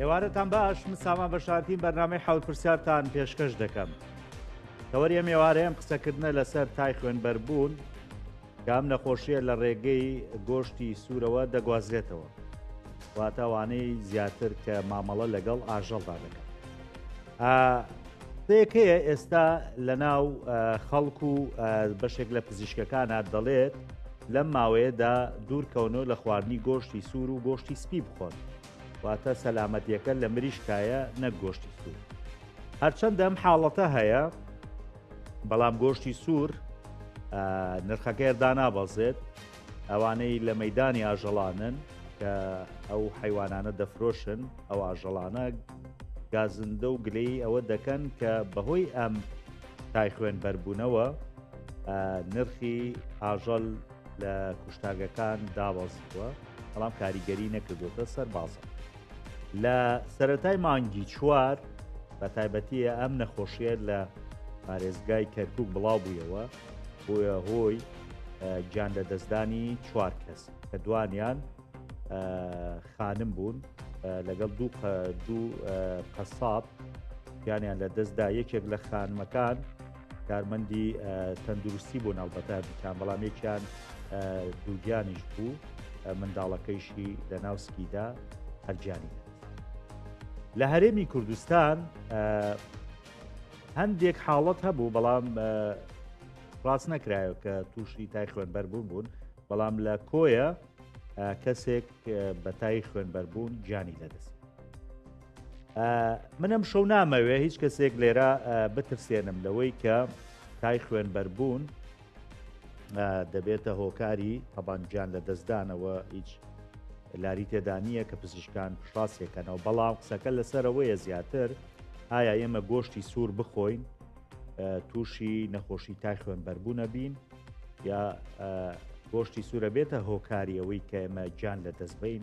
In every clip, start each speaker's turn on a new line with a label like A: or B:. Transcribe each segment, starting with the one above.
A: ئێوارەتان باش من سامان بەشارتیم بەرنامەی حەوت پرسیارتان پێشکەش دەکەم تەوەریە مێوارەیەم قسەکردنە لەسەر تای خوێنبەربوون کام نەخۆشیە لە ڕێگەی گۆشتی سوورەوە دەگوازرێتەوە واتاوانەی زیاتر کە مامەڵە لەگەڵ ئاژەڵدا دەکەن پێکەیە ئێستا لە ناو خەڵک و بەشێک لە پزیشکەکانە دەڵێت لەم ماوەیەدا دوورکەونەوە لە خواردنی گۆشتی سوور و گۆشتی سپی بخۆن واتە سەلامەتیەکە لە مریشکایە نەک گۆشتی سوور هەرچەندە ئەم حاڵەتە هەیە بەڵام گۆشتی سوور نرخەکەی دانابەزێت ئەوانەی لە مەیدانی ئاژەڵانن کە ئەو حیوانانە دەفرۆشن ئەو ئاژەڵانە گازندە و گلەی ئەوە دەکەن کە بەهۆی ئەم تای خوێن بەربوونەوە نرخی ئاژەل لە کوشتاگەکان دابەزیوە بەڵام کاریگەری نەکردوتە سەر بازە لە سەتای مانگی چوار بە تایبەتیە ئەم نەخۆشیە لە پارێزگای کەرکک بڵاو بوویەوە بووە هۆی گیان لەدەستدانی چوار کەس کە دوانیان خانم بوون لەگەڵ دوو دوو قەساب گیانیان لە دەستدا یەکێک لە خانمەکان کارمەندی تەندروستی بۆ ناڵبەتە بکان بەڵام یەکیان دووگیانیش بوو منداڵەکەیشی لە ناوسکیدا هەرجانی لە هەرێمی کوردستان هەندێک حاڵەت هەبوو بەڵام ڕاست نەکرایە کە تووشی تای خوێنبەربوون بوون بەڵام لە کۆیە کەسێک بەتای خوێنبەربوون گیانی لەدەست منم شەو نامەوێ هیچ کەسێک لێرە بترسێنم لەوەی کە تای خوێنبەربوون دەبێتە هۆکاری تەبانجان لە دەستدانەوە هیچ لاری تێدانە کە پزیشکان پشاسێکەنەوە بەڵام قسەکە لەسەرەوەیە زیاتر ئایا ئێمە گۆشتی سوور بخۆین تووشی نەخۆشی تای خوێنبەربوونە بین یا گۆشتی سوورە بێتە هۆکاری ئەوەی کە ئێمە گیان لە دەستبین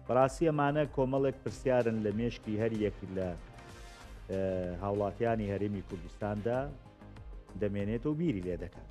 A: بەڕاستی ئەمانە کۆمەڵێک پرسیارن لە مێشکی هەر یەک لە هاوڵاتیانی هەرێمی کوردستاندا دەمێنێت و بیری لێ دەکات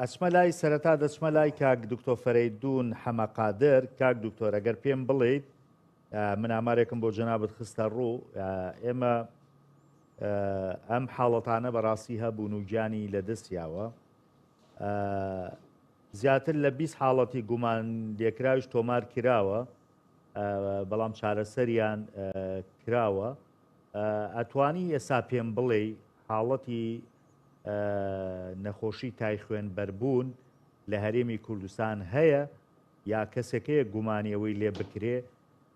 A: ئەچمە لای سەرەتا دەچمە لای کاک دکتۆ فەرەیدون حەمە قادر کاک دکتۆر ئەگەر پێم بڵیت من ئامارێکم بۆ جەنابت خستە ڕوو ئێمە ئەم حاڵەتانە بەڕاستی هەبوون و گیانی لە دەستیاوە زیاتر لە 20 حاڵەتی گومان لێکراویش تۆمار کراوە بەڵام چارەسەریان کراوە ئەتوانی ئێستا پێم بڵێ حاڵەتی نەخۆشی تای خوێن بەربوون لە هەرێمی کوردستان هەیە یا کەسێک هەیە گومانی ئەوەی لێ بکرێ؟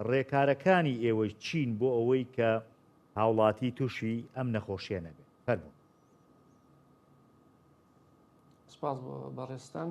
A: ڕێکارەکانی ئێوەی چین بۆ ئەوەی کە هاوڵاتی تووشی ئەم نەخۆشیە نەبێت فەرموون.
B: سپاس بۆ بەڕێزتان.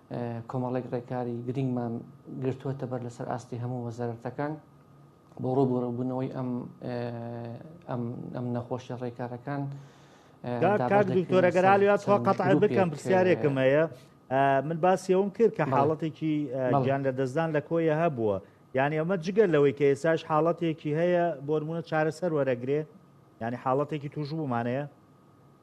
B: کۆمەڵێک ڕێکاری گرنگمان گرتووەتە بەر لەسەر ئاستی هەموو وەزارەتەکان بۆ ڕوبوورەبوونەوەی ئەم ئەم نەخۆشیە ڕێکارەکان
A: دکتۆرەگەرا لە قەتع بکەم پرسیارێکم هەیە من باسی ئەوم کرد کە حاڵەتێکی گیان لە دەستدان لە کۆیە هەبووە یعنی ئەمە جگەر لەوەی کە ئێساش حاڵەتێکی هەیە بۆرمونە چارەسەر وەرەگرێ ینی حاڵەتێکی توش بوومانەیە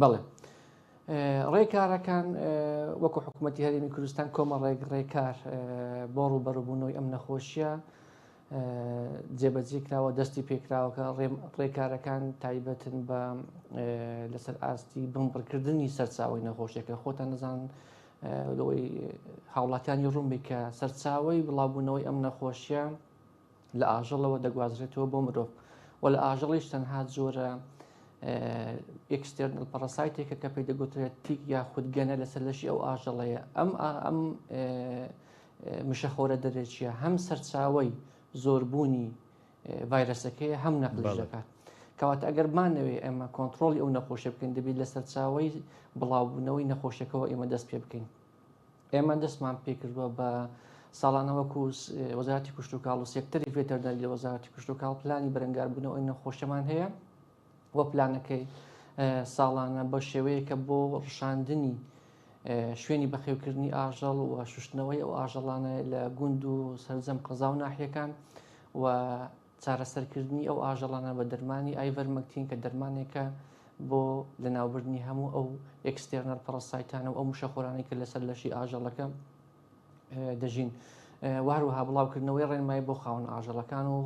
B: بەڵێ ڕێکارەکان وەکو حکوومەتتی هەرمی کوردستان کۆمە ڕێک ڕێکار بۆ ڕووبەڕبوونەوەی ئەم نەخۆشیە جێبەجی کراوە دەستی پێکراوەکە ڕێکارەکان تایبەتن بە لەسەر ئاستی بمبڕکردنی سەرچاوی نەخۆشیەکە خۆتان نەزان لەوەی هاوڵاتانی ڕوومبی کە سەرچاوی بڵاوبوونەوەی ئەم نەخۆشیە لە ئاژەڵەوە دەگوازرێتەوە بۆ مرۆڤ و لە ئاژەڵیش تەنها جۆرە ئکسستێرنل پەڕسایتێکە کە پێی دەگوترێت تیک یا خودگەنە لەسەر لەشی ئەو ئاژەڵەیە ئەم ئەم مشەخۆرە دەرێکیە هەم سەرچاوی زۆربوونی ڤایرەسەکەی هەم نەقلش دەکات. کەواتە ئەگەر بمانەوەی ئێمە کۆنتترۆلی ئەو نەخۆشی بکەین دەبیت لە سەرچاوی بڵاوبوونەوەی نەخۆشیەکەەوە ئێمە دەست پێ بکەین. ئێمە دەستمان پێکردووە بە ساڵانە وەکو وەزارتی کوشتتوکاڵ و سێکتەری ڤێتەرداری لە وەزارتی کوشتتوکاڵ پلانی بەرەنگاربوونەوەی نەخۆشەمان هەیە و پلانەکەی ساڵانە بە شێوەیە کە بۆ ڕشاندنی شوێنی بەخێوکردنی ئاژەڵ و شوشتنەوەی ئەو ئاژەڵانە لە گوند و سەرجەم قەزا و ناحیەکان و چارەسەرکردنی ئەو ئاژەڵانە بە دەرمانی ئایڤەرمەکتین کە دەرمانێکە بۆ لەناوبردنی هەموو ئەو ئێکستێرنەر پەڕەسایتانە و ئەو مشەخۆرانەی کە لەسەر لەشی ئاژەڵەکە دەژین واروها بڵاوکردنەوەی ڕێنمایی بۆ خاون ئاژەڵەکان و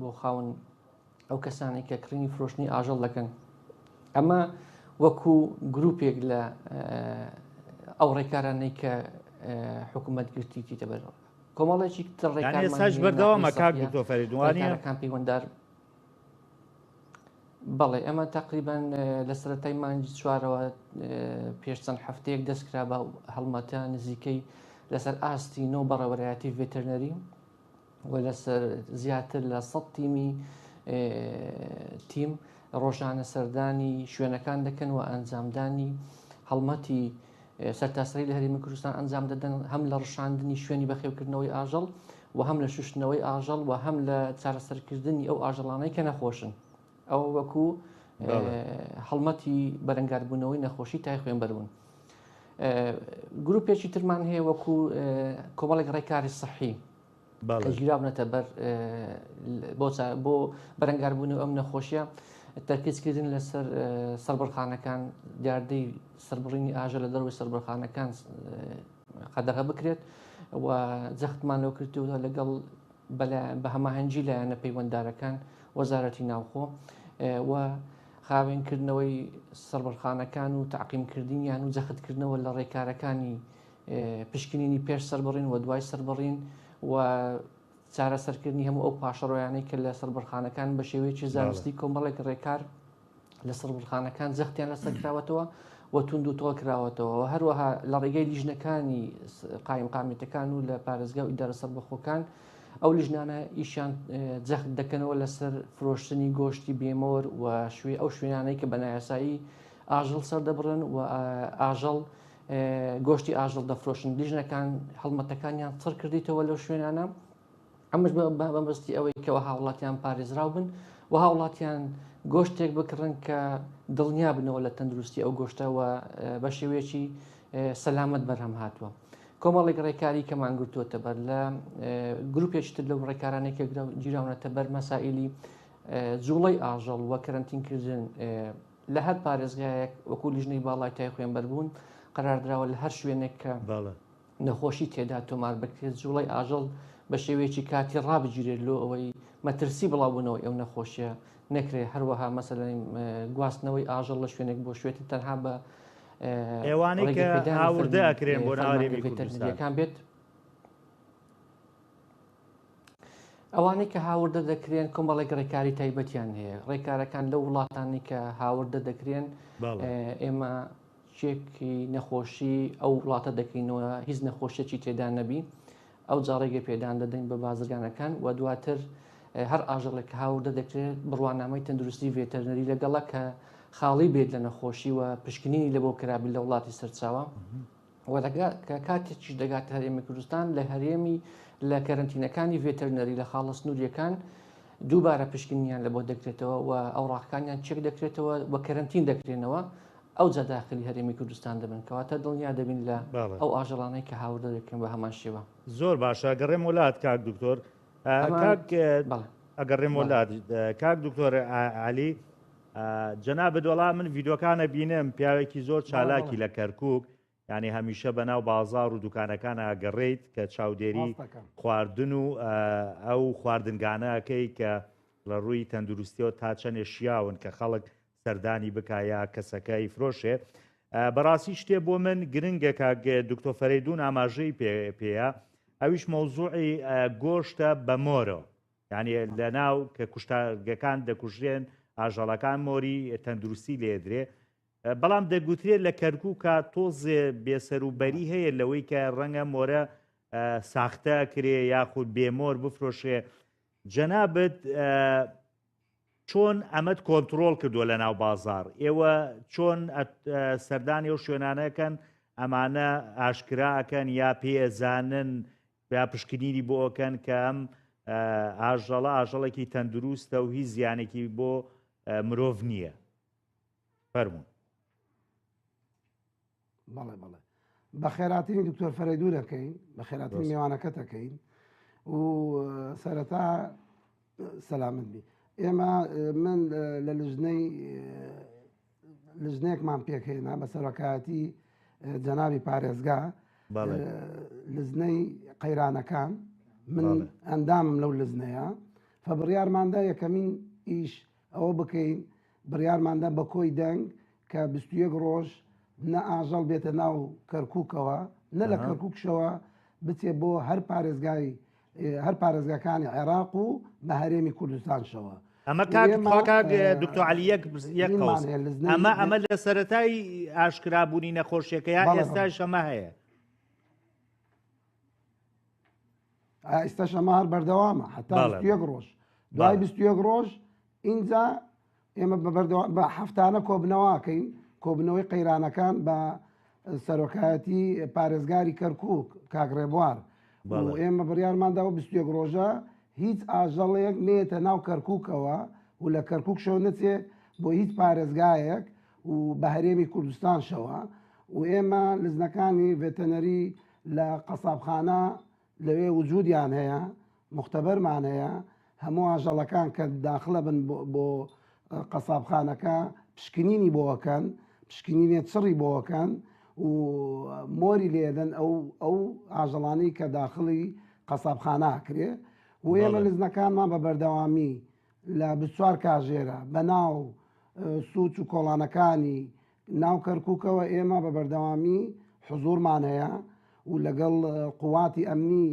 B: بۆ خاون ئەو کەسانی کە کڕینی فرۆشتنی ئاژەڵ دەکەن ئەمە وەکو گرروپێک لە ئەو ڕێکارانەی کە حکوومەت گرتیتیتە بەرەوە کۆمەڵێکی تڕێکانساش
A: بەردەوامە کاک دکتۆ فەریدوانەکان پەیوەندار
B: بەڵێ ئەمە تقریبان لە سەتای مانجی چوارەوە پێش چەند هەفتەیەک دەستکرا بە هەڵمەتە نزیکەی لەسەر ئاستی نۆ بەڕێوەرایەتی ڤێتەرنەری و لەسەر زیاتر لە سە تیمی تیم ڕۆژانە سەردانی شوێنەکان دەکەن و ئەنجامدانی هەڵمەتی سەرتاسەری لە هەرێمی کوردستان ئەنجام دەدەن هەم لە ڕشاندنی شوێنی بەخێوکردنەوەی ئاژەڵ و هەم لە شوشتنەوەی ئاژەڵ و هەم لە چارەسەرکردنی ئەو ئاژەڵانەی کە نەخۆشن ئەوە وەکو هەڵمەتی بەرەنگاربوونەوەی نەخۆشی تای خوێن بەرون گروپێکی ترمان هەیە وەکو کۆمەڵێک ڕێکاری سەحی کە گیرابنەتە بەر بۆ بەرەنگاربوون و ئەم نەخۆشیە تەرکیزکردن لەسەر سەربڕخانەکان دیاردەی سربڕینی ئاژە لە دەروی سربڕخانەکان قەدەغە بکرێت و جەختمان لەو کردووە لەگەڵ بە هەماهەنگی لایەنە پەیوەنددارەکان وەزارەتی ناوخۆ و خاوێنکردنەوەی سەربڕخانەکان و تعقیمکردنیان و جەختکردنەوە لە ڕێکارەکانی پشکنینی پێش سەربڕین و دوای سەربڕین و چارەسەرکردنی هەموو ئەو پاشەڕۆیانەی کە لە سەربڕخانەکان بە شێوەیەکی زانستی کۆمەڵێک ڕێکار لە سەربڕخانەکان زەختیان لەسەر کراوەتەوە و تونند و تۆڵ کراوەتەوە و هەروەها لە ڕێگەی لیژنەکانی قایم قامێتەکان و لە پارێزگا و ئیدارە سەربەخۆکان ئەو لیژنانە ئیشان جەخت دەکەنەوە لەسەر فرۆشتنی گۆشتی بێمۆر و شوێ ئەو شوێنانەی کە بەنایاسایی ئاژەڵ سەردەبڕن و ئاژەڵ گۆشتی ئاژەڵ دەفرۆشن لیژنەکان هەڵمەتەکانیان چڕ کردیتەوە لەو شوێنانە ئەمەش بەمەستی ئەوەی کەەوە هاوڵاتیان پارێزراو بن و هاوڵاتیان گۆشتێک بکڕن کە دڵنیا بنەوە لە تەندروستی ئەو گۆشتەوە بە شێوەیەکی سەلامت بەرهەم هاتووە. کۆمەڵێک ڕێکاری کەمان گرتووەتە بەر لە گروپێکتر لەو ڕێکارانێک گیراونەتە بەر مەسائلی جوڵەی ئاژەڵ وە کەرنتینکردن لە هەر پارێزگایەک وەکو لیژنەی باڵای تای خوێنبەربوون قەراردراوە لە هەر شوێنێک کە نەخۆشی تێدا تۆمار بکرێت جوڵەی ئاژەڵ بە شێوەیەکی کاتی ڕابگیرێت لۆ ئەوەی مەترسی بڵاوبوونەوەی ئەو نەخۆشیە نەکرێت هەروەها مەسەلەی گواستنەوەی ئاژەڵ لە شوێنێک بۆ شوێتی تەنها بە ئێوانەی
A: کە هاوردە ئەکرێن بۆ ناوەکان بێت
B: ئەوانەی کە هاوردە دەکرێن کۆمەڵێک ڕێکاری تایبەتیان هەیە ڕێکارەکان لە وڵاتانی کە هاوردە دەکرێن ئێمە چێکی نەخۆشی ئەو وڵاتە دەکەینەوە هیچ نەخۆشیەکی تێدا نەبی ئەو جاڕێگە پێدان دەدەین بە بازرگانەکان و دواتر هەر ئاژەڵێک کە هاوردە دەکرێت بڕوانامەی تەندروستی ڤێتەرنەری لەگەڵە کە خاڵی بێت لە نەخۆشی و پشکنینی لە بۆ کرابی لە وڵاتی سەرچاوە و کە کاتێکیش دەگاتە هەرێمی کوردستان لە هەرێمی لە کەرنتینەکانی ڤێتەرنەری لە خاڵە سنووریەکان دووبارە پشکنیان لە بۆ دەکرێتەوە و ئەو ڕاکانیان چێک دەکرێتەوە و کەرنتین دەکرێنەوە ئەو جاداخلی هەرێمی کوردستان دەبن کەواتە دڵنیا دەبین لە ئەو ئاژەڵانەی کە هاوردە دەکەن بە هەمان شێوە زۆر باشە گەڕێم
A: وڵات کاک دکتۆر ئەگەڕێم وڵات کاک دکتۆر علی جەنابت وەڵا من ڤیدۆکانە بینم پیاوێکی زۆر چالاکی لە کەرکک ینی هەمیشە بەناو بازار و دوکانەکان ئاگەڕیت کە چاودێری خواردن و ئەو خواردنگانەکەی کە لە ڕووی تەندروستیەوە تا چەندێ شیاون کە خەڵک سەردانی بکایە کەسەکەی فرۆشێ بەڕاستی شتێ بۆ من گرنگە کاگە دکتۆ فەرەیدون ئاماژەی پێ پێەیە ئەویش مەوزوعی گۆشتە بەمۆرەوە یانی لە ناو کە کوشتارگەکان دەکوژرێن ئاژەڵەکان مۆری تەندروستی لێدرێ بەڵام دەگوترێت لە کەرکووکە تۆزێ بێسەروبەری هەیە لەوەی کە ڕەنگە مۆرە ساختە کرێ یاخود بێمۆر بفرۆشێ جەنابەت چۆن ئەمەد کۆنتترۆل کردووە لە ناو بازار ئێوە چۆن سەردانی و شوێنانەکەن ئەمانە ئاشکراکەن یا پێزانن یا پشکنینی بۆ ئەکەن کە ئەم ئاژەڵە ئاژەڵێکی تەندروستە و هیچ زیانێکی بۆ مرۆڤ نییە فەرمونون
C: بەڵێ بەڵێ بە خێراتنی دکتۆر فەرەیدو دەکەین بە خێراتنی میوانەکە دەکەین و سەرەتا سەلامت بی ئێمە من لە لژنەی لجنەیەکمان پێکهێنا بە سەرۆکایەتی جەنابی پارێزگا لزنەی قەیرانەکان من ئەندامم لەو لزنەیە فبڕیارماندا یەکەمین ئیش ئەوە بکەین بڕیارماندا بە کۆی دەنگ کە 21 ڕۆژ نە ئاژەڵ بێتە ناو کەرککەوە نە لە کەرککشەوە بچێ بۆ هەر پارێزگای هەر پارێزگاکانی عێراق و بە هەرێمی کوردستانشەوە ئەمە کاک
A: کاک دکتۆر علی یەک یەک قەوس ئەمە ئەمە لە سەتای ئاشکرابوونی نەخۆشیەکە یا ئێستا شەمە هەیە
C: ئێستا شەمار بەردەوامە حتا یەک ڕۆژ دوای بیست یەک ڕۆژ ئینجا ئێمە بە بەردەوا بە هەفتانە کۆبنەواکەین کۆبنەوەی قەیرانەکان بە سەرۆکایەتی پارێزگاری کەرکک کاگڕێبوار ئێمە بڕیارماندا و بستێک ڕۆژە هیچ ئاژەڵێک نێتە ناو کەرککەوە و لە کەرکک شەو نەچێت بۆ هیچ پارێزگایەک و بە هەرێمی کوردستان شەوە و ئێمە لزنەکانی ڤێتەنەری لە قەسابخانە لەوێ وجودیان هەیە موختەبەرمان هەیە هەموو ئاژەڵەکان کە داخلە بن بۆ قەسابخانەکە پشکنینی بۆەکەن پشکنینێ چڕی بۆەکەن و مۆری لێدەن ئەو ئەو ئاژەڵانی کە داخلی قەسابخانە کرێ و ئێمە لزنەکانمان بە بەردەوامی لە بچوار کاژێرە بەناو سوچ و کۆڵانەکانی ناو کەرکوکەوە ئێمە بە بەردەوامی حزوورمان هەیە و لەگەڵ قوواتی ئەمنی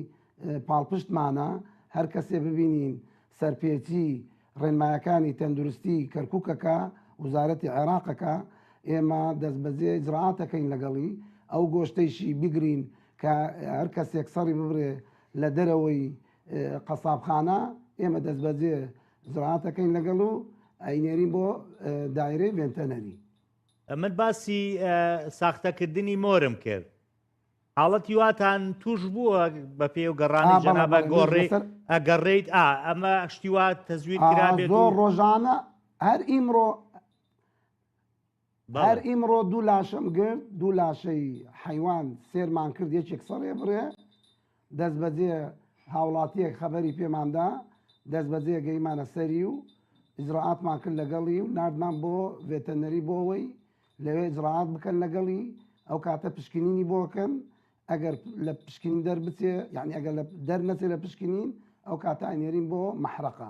C: پاڵپشتمانە هەر کەسێ ببینین سەرپێچی ڕێنمایەکانی تەندروستی کەرکوکەکە وزارەتی عێراقەکە ئێمە دەستبەجێ جڕاتەکەین لەگەڵی ئەو گۆشتەیشی بگرین کە هەر کەسێک سەڕی ببرێ لە دەرەوەی قەسابخانە ئێمە دەستبەجێ زڕعاتەکەین لەگەڵ و ئەینێرین بۆ دایرەی ڤێنتەنەری. من
A: باسی ساختەکردنی مۆرم کرد. حاڵەتی واتان توش بووە بە پێ و گەڕانی جەنابە گۆڕێ ئەگەڕێیت ئا ئەمە شتیوات تەزویر کرابێت زۆر ڕۆژانە
C: هەر ئیمڕۆ هەر ئیمڕۆ دوو لاشەم گرت دوو لاشەی حەیوان سێرمان کرد یەکێک سەڕێ بڕێ دەست بەجێ هاوڵاتیەک خەبەری پێماندا دەست بەجێ گەیمانە سەری و ئجرراعاتمان کرد لەگەڵی و نردمان بۆ ڤێتەنەری بۆەوەی لەوێ جرراعات بکەن لەگەڵی ئەو کاتە پشکنینی بۆکەن ئەگەر لە پشکین دەربچێ یعنی ئەگەر لە دەر نەچێت لە پشکنین ئەو کاتانێرین بۆ مەحرەقە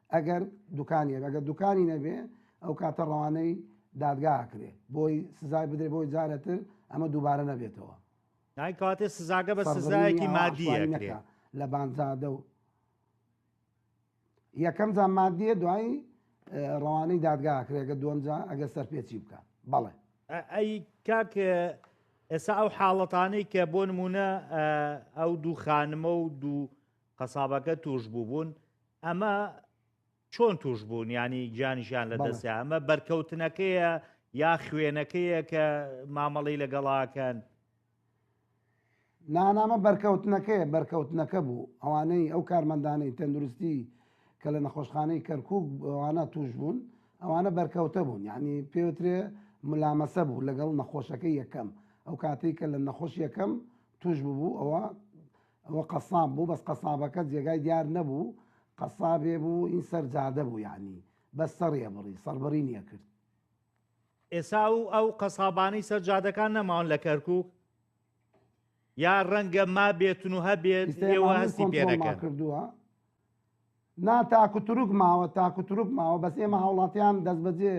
C: ئەگەر دوکانی هەبێ ئەگەر دوکانی نەبێ ئەو کاتە ڕەوانەی دادگا ئەکرێ بۆی سزای بدرێ بۆی جارەتر ئەمە دووبارە نەبێتەوە دای
A: کاتێ سزاگە بە سزایەکی مادیە نەکە لە بانزادە
C: و یەکەم جا مادیە دوایی ڕەوانەی دادگا کرێگە دوم جا ئەگە سەرپێچی بکە بەڵێ ئەی
A: کاک ئێستا ئەو حاڵەتانەی کە بۆ نمونە ئەو دوو خانمە و دوو قەسابەکە توش بوبون ئەمە چۆن توش بوون ینی گیانیشیان لە دەستیا ئەمە بەرکەوتنەکەیە یا خوێنەکەیە کە مامەڵی لەگەڵاکەن
C: نانامە بەرکەوتنەکەی بەرکەوتنەکە بوو ئەوانەی ئەو کارمەندانەی تەندروستی کە لە نەخۆشخانەی کەرکک ئەوانە توش بوون ئەوانە بەرکەوتە بوون یعنی پێوترێ ملامەسە بوو لەگەڵ نەخۆشەکە یەکەم ئەو کاتێک کە لە نەخۆش یەکەم توش ببوو ئەوە ئەوە قەساب بوو بەس قەسابەکە جێگای دیار نەبوو قەسابێ بوو ئین سەر جادە بوو یانی بەس سەڕی ئەبڕی سەڕبڕینی ئەکرد.
A: ئێسا ئەو ئەو قەسابانەی سەر جادەکان نەماون لە کەرکوک؟ یا ڕەنگە مابێتن و هەبێت ئێستا ئێوە ماملێ هەستی پێ کۆنترۆڵمان نەکەن. کردووە
C: نا تاک و تورک ماوە تاک و تورک ماوە بەس ئێمە هاوڵاتیان دەست بەجێ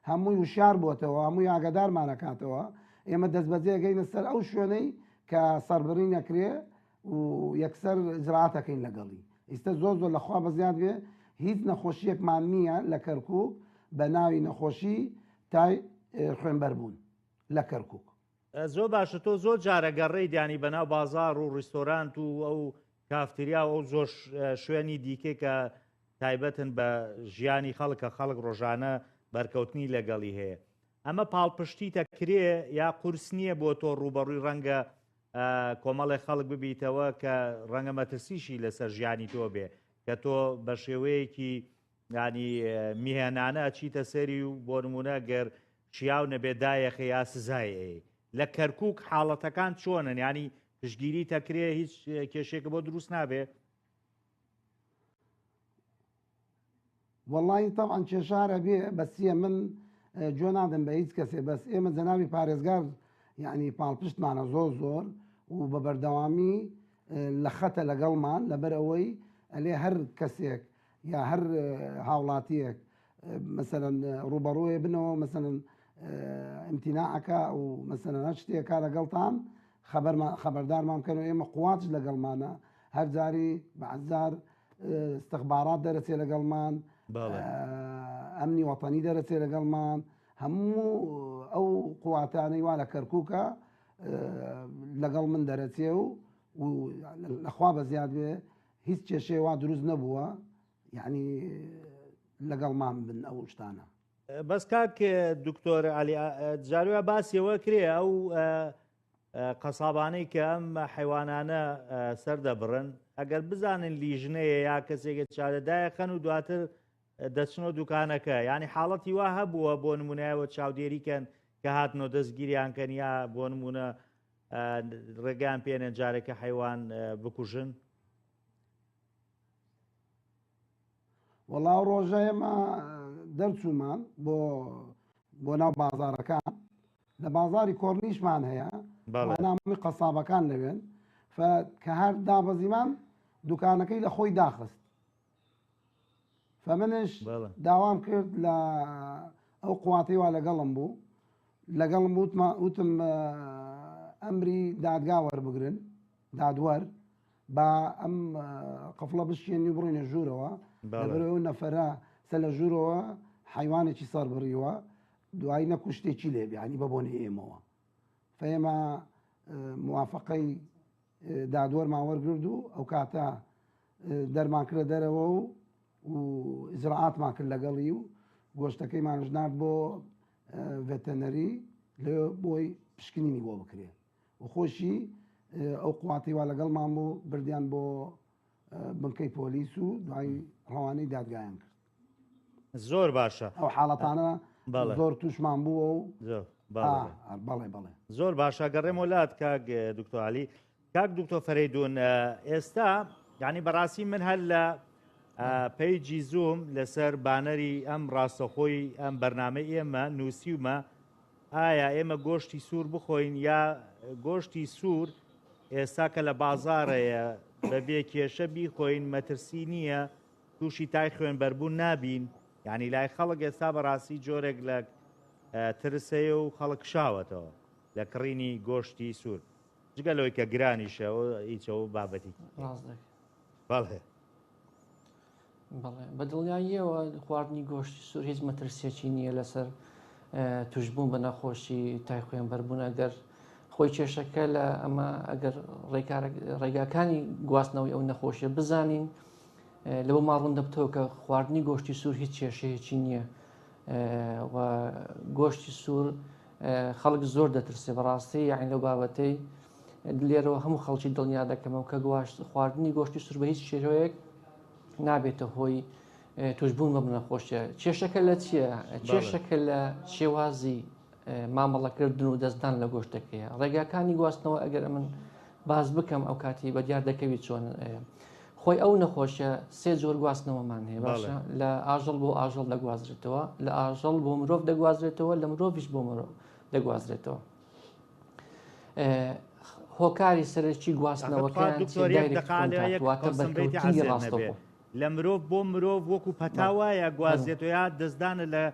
C: هەمووی وشار بووەتەوە هەمووی ئاگادارمانەکاتەوە ئێمە دەست بەجێگەینە سەر ئەو شوێنەی کە سەربڕی نەکرێ و یەکسەر زراعاتەکەین لەگەڵی ئیستا زۆر زۆر لەخوا بەزیاد بێ هیچ نەخۆشیەکمان نییە لە کەرکک بە ناوی نەخۆشی تای خوێنبەر بوون لە کەرکک زۆر باشە
A: تۆ زۆر جارە گەڕێی دیانی بەناو بازار و ڕیستۆرانت و ئەو کافتریا و ئەو زۆر شوێنی دیکە کە تایبەتن بە ژیانی خەڵکە خەڵک ڕۆژانە بەرکەوتنی لەگەڵی هەیە ئەمە پاڵپشتی تەکرێ یا قورس نییە بۆ تۆ ڕوبەڕووی ڕەنگە کۆمەڵی خەڵک ببیتەوە کە ڕەنگە مەترسیشی لەسەر ژیانی تۆ بێ کە تۆ بە شێوەیەکی یانی میهێنانە ئەچیتە سەری و بۆ نمونە گەر شیاو نەبێ دایەخە یا سزای ئەی لە کەرکک حاڵەتەکان چۆنن ینی پشگیری تەکرێ هیچ کێشێکە بۆ دروست نابێ
C: وەڵی تاوان کێشارە بێ بەسیە من جۆ نادەم بە هیچ کەسێ بەس ئێمە جەناوی پارێزگار یعنی پاڵپشتمانە زۆر زۆر و بە بەردەوامی لە خەتە لەگەڵمان لەبەر ئەوەی ئەلێ هەر کەسێک یا هەر هاوڵاتیەک مەسەلەن ڕوبەڕوێ بنەوە مەسەلەن ئەمتیناعەکە و مەسەلەن هەر شتێکە لەگەڵتان خەبەردارمان بکەن و ئێمە قوواچ لەگەڵمانە هەر جاری بەعزار استخبارات دەرەچێ لەگەڵمان ئەمنی وەتەنی دەرەچێ لەگەڵمان هەموو ئەو قواتانەی وا لە کەرکووکە لەگەڵ من دەرەچێ و لەخوا بە زیاد بێ هیچ کێشەی وا دروست نەبووە یەعنی لەگەڵمان بن ئەو شتانە. بەس کاک
A: دکتۆر علی جاروە باسی ئەوە کرێ ئەو قەسابانەی کە ئەم حیوانانە سەردەبڕن ئەگەر بزانن لیژنەیە یا کەسێکە چارەدایە خەن و دواتر دەچنەوە دوکانەکە ینی حاڵەتی وا هەبووە بۆ نمونایەوە چاودێریکەن کە هاتنەوە دەستگیریان کەن یا بۆ نمونە ڕێگەیان پێنێن جارێکە حیوان بکوژن
C: وەڵا ڕۆژە ئێمە دەرچوومان بۆ بۆ ناو بازارەکان لە بازاری کۆرنیشمان هەیە نامی قەسابەکان لەوێن کە هەر دابەزیمان دوکانەکەی لە خۆی داخست فەمنش بەڵێ. داوام کرد لە ئەو قواتەی وا لەگەڵم بوو لەگەڵم وتما وتم اه، ئەمری دادگا وەربگرن دادوەر با ئەم اه، قفڵە بشکێنی و بڕینە ژوورەوە بەڵێ. لەبەرەوەی ئەو نەفەرە سە لە ژوورەوە حیوانێکی سەر بڕیوە دوایی نەکو شتێکی لێبێ ینی بە بۆنەی ئێمەوە فەیما اه، موافقەی دادوەرمان وەرگرد و ئەو کاتە دەرمان کرە دەرەوە و و ئیزراعاتمان کرد لەگەڵی و گۆشتەکەیمانش نرد بۆ ڤەتەنەری لە بۆی پشکنینی بۆ بکرێ و خۆشی ئەو قواتیوا لەگەڵمان بوو بردیان بۆ بنکەی پۆلیس و دوای ڕەوانەی دادگایان کرد زۆر
A: باشە ئەو حاڵەتانە
C: زۆر توشمان بووە و بەڵێ بەڵێ زۆر
A: باشە گەڕێم وڵات کاک دکتۆالی کاک دکتۆ فەرەیدون ئێستا یعنی بەڕاستی من هەر لە پەیجی زوم لەسەر بانەری ئەم ڕاستەخۆی ئەم بەرنمەی ئێمە نووسیومە ئایا ئێمە گۆشتی سوور بخۆین یا گۆشتی سوور ئێستا کە لە بازاڕەیە بەبێ کێشە بیخۆین مەترسی نییە تووشی تای خوێنبەربوون نابین یعنی لای خەڵک ئێستا بەڕاستی جۆرێک لە ترسەیە و خەڵک شاوەتەوە لە کڕینی گۆشتی سوور جگە لەوەی کە گرانیشە ئیچەوە بابەتی بەڵێ
B: بەڵێ بە دڵنیاییەوە خواردنی گۆشتی سوور هیچ مەترسیەکی نییە لەسەر توشببوون بە نەخۆشی تای خوێن بەربوون ئەگەر خۆی کێشەکە لە ئەمە ئەگەر ڕێگاکانی گواستنەوەی ئەو نەخۆشیە بزانین لەوە ماڕون دەبتەوە کە خواردنی گۆشتی سوور هیچ کێشەیەکی نییە و گۆشتی سوور خەڵک زۆر دەترسێ بەڕاستی یاعین لەو بابەتەی لێرەوە هەموو خەڵکی دڵنیا دەکەمەوە کە گواشت خواردنی گۆشتی سور بە هیچ شێوەیەک نابێتە هۆی توشببوون بەم نەخۆشیە کێشەکە لە چییە کێشەکە لە شێوازی مامەڵەکردن و دەستدان لە گۆشتەکەیە ڕێگاکانی گواستنەوە ئەگەر من باز بکەم ئەو کاتی بە دیار دەکەوی چۆن خۆی ئەو نەخۆشە سێ جۆر گواستنەوەمان هەیە باشە لە ئاژەڵ بۆ ئاژەڵ دەگوازرێتەوە لە ئاژەڵ بۆ مرۆڤ دەگوازرێتەوە لە مرۆڤش بۆ مرۆڤ دەگوازرێتەوە هۆکاری سەرەکی گواستنەوەکەیانواتەبەرکەوتنی ڕاستەوە لە مرۆڤ بۆ
A: مرۆڤ وەکو پەتا وایە گوازێت و یا دەستدانە لە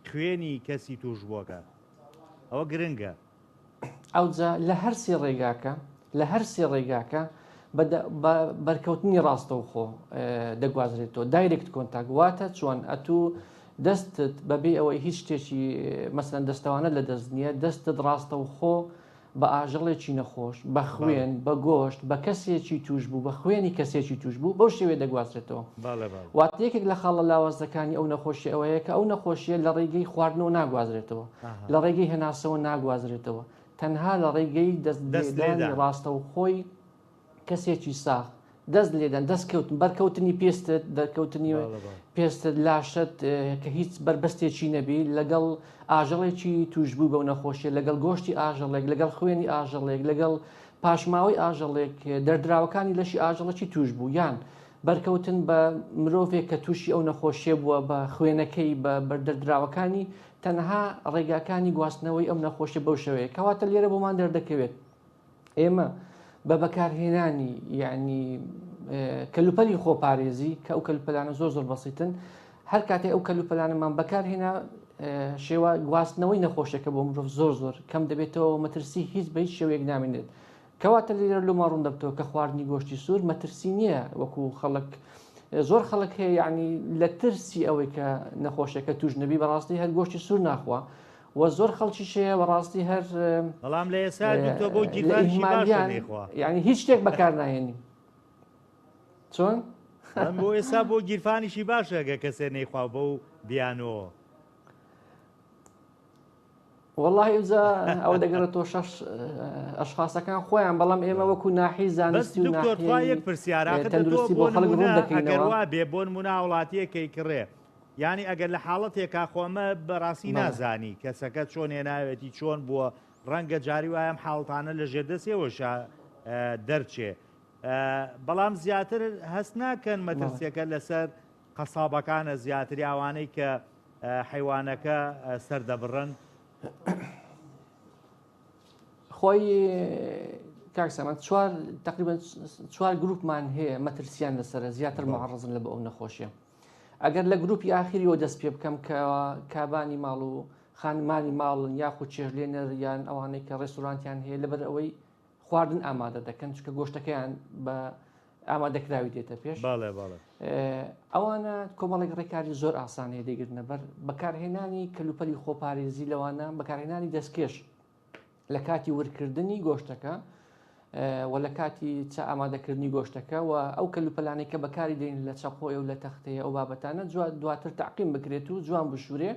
A: خوێنی کەسی توش بووەکە ئەوە گرنگە ئەوجا
B: لە هەرسی ڕێگاکە لە هەرسی ڕێگاکە بەرکەوتنی ڕاستەوخۆ دەگوازرێتەوە دایرکت کۆنتاک واتە چۆن ئەتوو دەستت بە بێ ئەوەی هیچ شتێکی مەسەن دەستەوانە لە دەست نییە دەستت ڕاستە و خۆ بە ئاژەڵێکی نەخۆش بە خوێن بە گۆشت بە کەسێکی توش بوو بە خوێنی کەسێکی توش بوو بەو شێوێ دەگوازرێتەوە وات یەکێک لە خاڵە لاوازەکانی ئەو نەخۆشی ئەوەیە کە ئەو نەخۆشیە لە ڕێگەی خواردنەوە ناگوازرێتەوە لە ڕێگەی هێناسەوە ناگوازرێتەوە تەنها لە ڕێگەی دەست دەستێدا ڕاستە و خۆی کەسێکی ساغ دەست لێدەن دەست کەوتن بەرکەوتنی پێستت دەرکەوتنی پێستت لاشت کە هیچ بەربەستێکی نەبی لەگەڵ ئاژەڵێکی توشببوو بەو نەخۆشیە لەگەڵ گۆشتی ئاژەڵێک لەگەڵ خوێنی ئاژەڵێک لەگەڵ پاشماوەی ئاژەڵێک دەردراوەکانی لەشی ئاژەڵەکی توشببوو یان بەرکەوتن بە مرۆڤێک کە تووشی ئەو نەخۆشیە بووە بە خوێنەکەی بە بەردەردراوەکانی تەنها ڕێگاکانی گواستنەوەی ئەم نەخۆشیە بەو شێوەیە کەواتە لێرە بۆمان دەردەکەوێت ئێمە بە بەکارهێنانی یعنی کەلوپەلی خۆپارێزی کە ئەو کەلوپەلانە زۆر زۆر بەسیتن هەر کاتی ئەو کەلوپەلانەمان بەکارهێنا شێوە گواستنەوەی نەخۆشەکە بۆ مرۆڤ زۆر زۆر کەم دەبێتەوە مەترسی هیچ بە هیچ شێوەیەک نامێنێت کەواتە لێرە لۆمە ڕوون دەبتەوە کە خواردنی گۆشتی سوور مەترسی نییە وەکو خەڵک زۆر خەڵک هەیە یعنی لە ترسی ئەوەی کە نەخۆشەکە توش نەبی بەڕاستی هەر گۆشتی سوور ناخوا وە زۆر خەڵکیش هەیە بەڕاستی هەر بەڵام لە ئێستا
A: دوتۆ بۆ گیرفانشی باشە نەیخوا یعنی هیچ شتێک بەکار
B: ناهێنی چۆن؟
A: بۆ ئێستا بۆ گیرفانیشی باشەگە کەسێ نەیخوا بە و بیانەوە
B: والله ئێجا ئەوە دەگەڕێت تۆ شەش ئەشخاصەکان خۆیان بەڵام ئێمە وەکو ناحی زانستی
A: پرسیارەکەەوە دەکەینەوە بێ بۆن مناوڵاتیەکەی کڕێ یانی ئەگەر لە حاڵەتێکا خۆ ئەمە بەڕاستی نازانی کەسەکە چۆن هێناوێتی چۆن بووە ڕەنگە جاری وایەم حاڵتانە لە ژێر دەستێەوەشە دەرچێ بەڵام زیاتر هەست ناکەن مەترسیەکە لەسەر قەسابەکانە زیاتری ئەوانەی کە حیوانەکە سەردەبڕن
B: خۆی کاکسەمە چوار تقریبا چوار گروپمان هەیە مەترسیان لەسرە زیاتر معڕزن لە بە ئەو نەخۆشیە ئەگەر لە گروپی ئاخیریەوە دەست پێ بکەم کە کابانی ماڵ و خانمانی ماڵن یاخود چێژلێنەر یان ئەوانەی کە ڕێستورانتیان هەیە لەبەر ئەوەی خواردن ئامادە دەکەن چکە گۆشتەکەیان بە ئامادەکراوی دێتە پێش ئەوانە کۆمەڵێک ڕێکاری زۆر ئاسانەیە دەگرنەبەر بەکارهێنانی کەلوپەلی خۆپارێزی لەوانە بەکارهێنانی دەستکێش لە کاتی ورکردنی گۆشتەکە و لە کاتی چا ئامادەکردنی گۆشتەکە و ئەو کەلوپەلانەی کە بەکاری دێن لە چەقۆی و لە تەختەیە ئەو بابەتانە دواتر تاقیم بکرێت و جوان بشورێ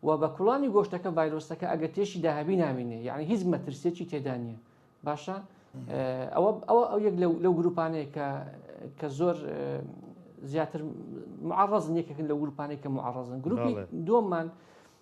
B: و بە کوڵانی گۆشتەکە ڤایرۆسەکە ئەگە تێشی داهبی نامینێ یعنی هیچ مەترسێکی تێدا نییە باشە ئەوە ئەوە ئەو یەک لەو گروپانەیە کە کە زۆر زیاتر معڕزن یەکێکن لە گروپانەی کە معڕزن گروپی دووەممان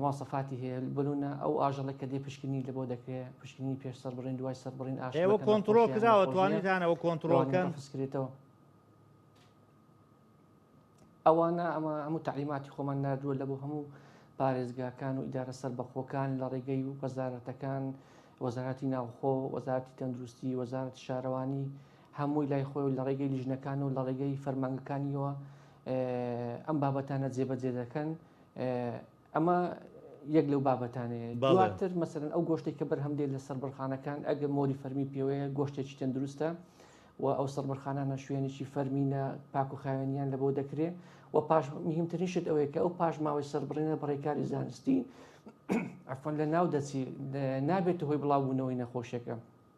B: مواسەفاتی هەیە بلونە ئەو ئاژەڵێک کە دێ پشکنی لە بۆ دەکرێت پشکنی پێش سەربڕین دوای سەربڕین ئەوە کۆنتترۆل
A: کراوە توانیتانەوە کۆنتترۆلکەن فسکرێتەوە
B: ئەوانە ئەمە ئەمە تعلیماتی خۆمان نردووە لە بۆ هەموو پارێزگاکان و ئیدارە سەر بەخۆکان لە ڕێگەی و وەزارەتەکان وەزارەتی ناوخۆ وەزارتی تەندروستی وەزارەتی شارەوانی هەمووی لای خۆی لە ڕێگەی لیژنەکان و لە ڕێگەی فەرمانگەکانیەوە ئەم بابەتانە جێبەجێ دەکەن ئەمە یەک لەو بابەتانەیە دواتر مەسەرن ئەو گۆشتێک کە بەرهەم دێت لە سەربڕخانەکان ئەگە مۆری فەرمی پێوەیە گۆشتێکی تەندروستە و ئەو سەربڕخانانە شوێنێکی فەرمینە پاک و خاوێنیان لە بۆ دەکرێت و پاش مهمترینشت ئەوەیە کە ئەو پاش ماوەی سەربڕینە بڕێکاری زانستی ئەفۆن لە ناو دەچی نابێت هۆی بڵاوبوونەوەی نەخۆشیەکە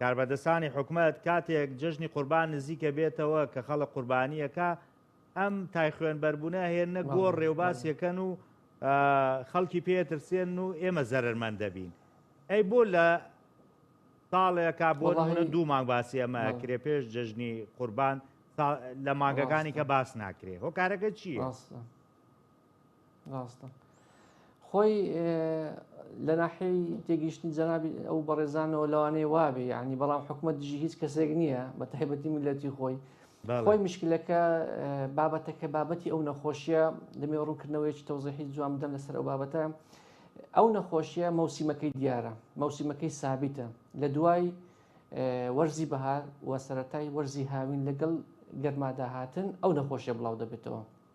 A: کاربەدەستانی حکومەت کاتێک جەژنی قوربان نزیکە بێتەوە کە خەڵک قوربانیەکا ئەم تای خوێنبەربونە هێننە گۆڕ رێوباس یەکەن و خەڵکی پێ ترسێنن و ئێمە زەرەرمەند دەبین ئەی بۆ لە ساڵێکا بۆ نمونە دوو مانگ باسی ئەمە کرێ پێش جەژنی قوربان لە مانگەکانی کە باس ناکرێ هۆکارەکە چییە؟
B: ڕاستە خۆی لە ناحەی تێگەیشتنی جەنابی ئەو بەڕێزانەوە لەوانەیە وابێ یعنی بەڵام حکوومەت دژی هیچ کەسێک نییە بە تایبەتی میلەتی خۆی خۆی مشکلەکە بابەتەکە بابەتی ئەو نەخۆشیە دەمێ ڕوونکردنەوەیکی تەوزیحی جوان بدەم لەسەر ئەو بابەتە ئەو نەخۆشیە مەوسیمەکەی دیارە مەوسیمەکەی سابیتە لە دوای وەرزی بەهار و سەتای وەرزی هاوین لەگەڵ گەرماداهاتن ئەو نەخۆشیە بڵاو دەبێتەوە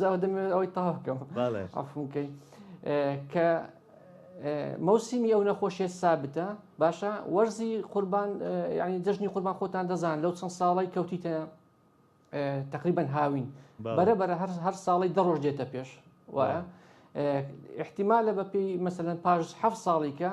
B: جاوە دەمەوێت ئەوەی تاوکەم ئەفونکەی کە مەوسیمی ئەو نەخۆشیێت سابتە باشە وەرزی قوربان ینی جژنی قوربان خۆتان دەزان لەو چەند ساڵی کەوتیتە تقریبان هاوین بەرە بەرە هەر هەر ساڵی دەڕۆژ دێتە پێش وایە احتیمالە بەپی مەسەن پاش ه ساڵیکە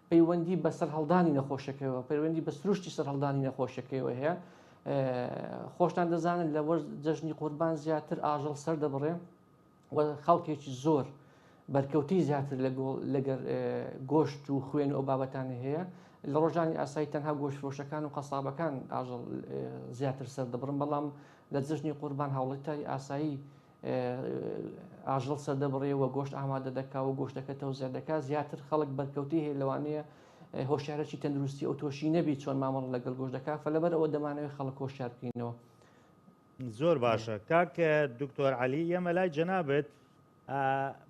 B: پەیوەندی بە سەرهەڵدانی نەخۆشەکەیەوە پەیوەندی بە سروشتی سەرهەڵدانی نەخۆشەکەیەوە هەیە خۆشتان دەزانن لە وەرز جەژنی قوربان زیاتر ئاژەڵ سەر دەبڕێ و خەڵکێکی زۆر بەرکەوتی زیاتر لەگەر گۆشت و خوێن و بابەتانی هەیە لە ڕۆژانی ئاسایی تەنها گۆشفرۆشەکان و قەسابەکان ئاژەڵ زیاتر سەر دەبڕن بەڵام لە جژنی قوربان هاوڵەتاری ئاسایی ئاژەڵ سەردەبڕێ و گۆشت ئامادە دەکا و گۆشتەکە تەوزێ دەکات زیاتر خەڵک بەرکەوتی هەیە لەوانەیە هۆشارەکی تەندروستی ئەو تۆشی نەبی چۆن مامەڵ لەگەڵ گۆش دەکات فە لەبەر ئەوە دەمانەوەی خەڵک هۆشار بکەینەوە
A: زۆر باشە کاک دکتۆر علی ئێمە لای جەنابێت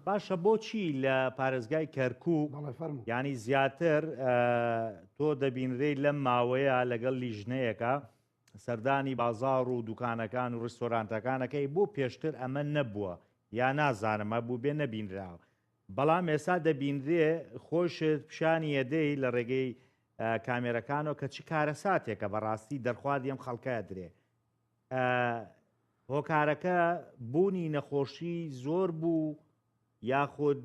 A: باشە بۆچی لە پارێزگای کەرکو ینی زیاتر تۆ دەبینرەی لەم ماوەیە لەگەڵ لیژنەیەەکە سەردانی بازاڕ و دوکانەکان و ڕیستۆرانتەکان ئەکەی بۆ پێشتر ئەمە نەبووە یا نازانم هەبووبێ نەبینراوە بەڵام ئێستا دەبینرێ خۆشت پیشانی ئەدەی لە ڕێگەی کامێرەکانەوە کە چ کارەساتێکە بەڕاستی دەرخواردی ئەم خەڵکە درێ هۆکارەکە بوونی نەخۆشی زۆر بوو یاخود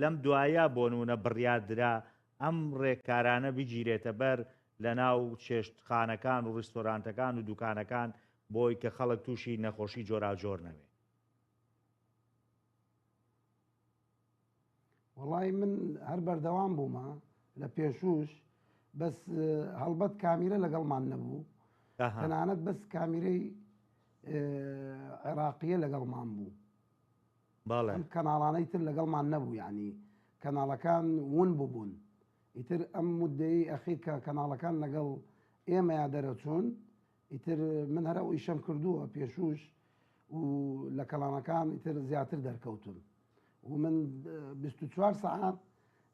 A: لەم دوایە بۆنونە بڕیاردرا ئەم ڕێککارانە بگیرێتە بەر لەناو چێشتخانەکان و ڕیستۆرانتەکان و دوکانەکان بۆی کە خەڵک توشی نەخۆشی جۆراوجۆر نەبێ؟
C: وەڵای من هەر بەردەوام بوومە لە پێشوش بەس هەڵبەت کامیرە لەگەڵمان نەبوو تەنانەت بەس کامیرەی عێراقیە لەگەڵمان بوو بەڵێ. ئەم کەناڵانەی تر لەگەڵمان نەبوو یانی کەناڵەکان وون ببوون ئیتر ئەم مودەیەی ئەخیر کە کەناڵەکان لەگەڵ ئێمەیا دەرەچوون ئیتر من هەر ئەو ئیشەم کردووە پێشووش و لە کەڵانەکان ئیتر زیاتر دەرکەوتون و من 24 سعات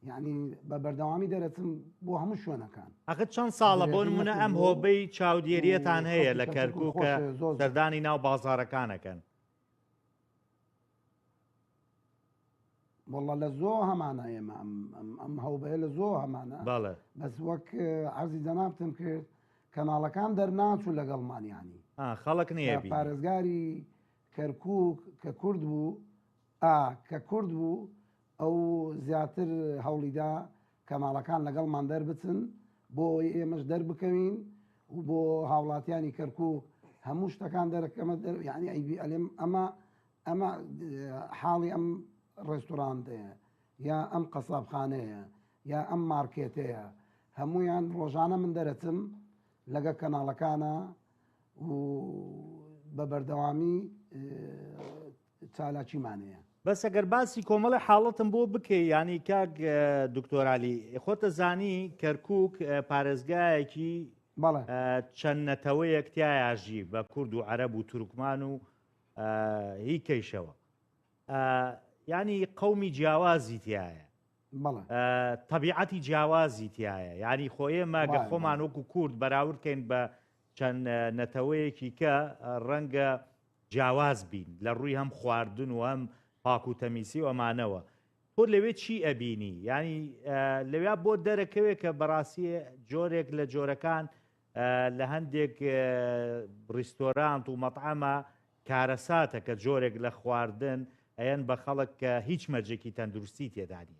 C: یعنی بە بەردەوامی دەرەچم بۆ هەموو شوێنەکان ئەخت چەند ساڵە
A: بۆ منە ئەم هۆبەی چاودێریەتان هەیە لە کەرکووکە سەردانی ناو بازارەکانەکەن
C: واللە لە زۆ هەمانە ئێمە ئەم هەوبەیە لە زۆ هەمانە باڵە بەس وەک عزی جەنابتم کرد کەناڵەکان دەرناچوو لەگەڵمانیانی خەڵک نیە
A: پارێزگاری
C: کەرکک کە کورد بوو کە کورد بوو ئەو زیاتر هەوڵیدا کەناڵەکان لەگەڵمان دەربچن بۆ ئەوەی ئێمەش دەربکەوین و بۆ هاوڵاتیانی کەرکوک هەموو شتەکان دەرەکەمە دەر یعنی ئەیبی ئەلێم ئەمە ئەمە حاڵی ئەم ڕێستورانتەیە یا ئەم قەسابخانەیە یا ئەم مارکێتەیە هەمویان ڕۆژانە من دەرەچم لەگە کەناڵەکانە و بە بەردەوامی چالاکیمانەیە. بەس ئەگەر باسی
A: کۆمەڵێ حاڵەتم بۆ بکەی یانی کاک دکتۆر علی خۆتە زانی کەرکک پارێزگایەکی بەڵێ چەند نەتەوەیەک تایاژی بە کورد و عەرەب و تورکمان و هی کەیشەوە ینی قومی جیاوازی تایە بەڵێ طبیعەتی جیاوازی تایە ینی خۆ ئێمە گە خۆمان وەکو کورد بەراوردکەین بە چەند نەتەوەیەکی کە ڕەنگە جیاواز بین لە ڕووی هەم خواردن و هەم پاک و تەمیسی و ئەمانەوە تۆ لەوێ چی ئەبینی یانی لەویا بۆ دەرەکەوێ کە بەڕاستی جۆرێک لە جۆرەکان لە هەندێک ڕیستۆرانت و مەطعەمە کارەساتە کە جۆرێک لە خواردن ئەیەن بە خەڵک کە هیچ مەرجێکی تەندروستی تێدانە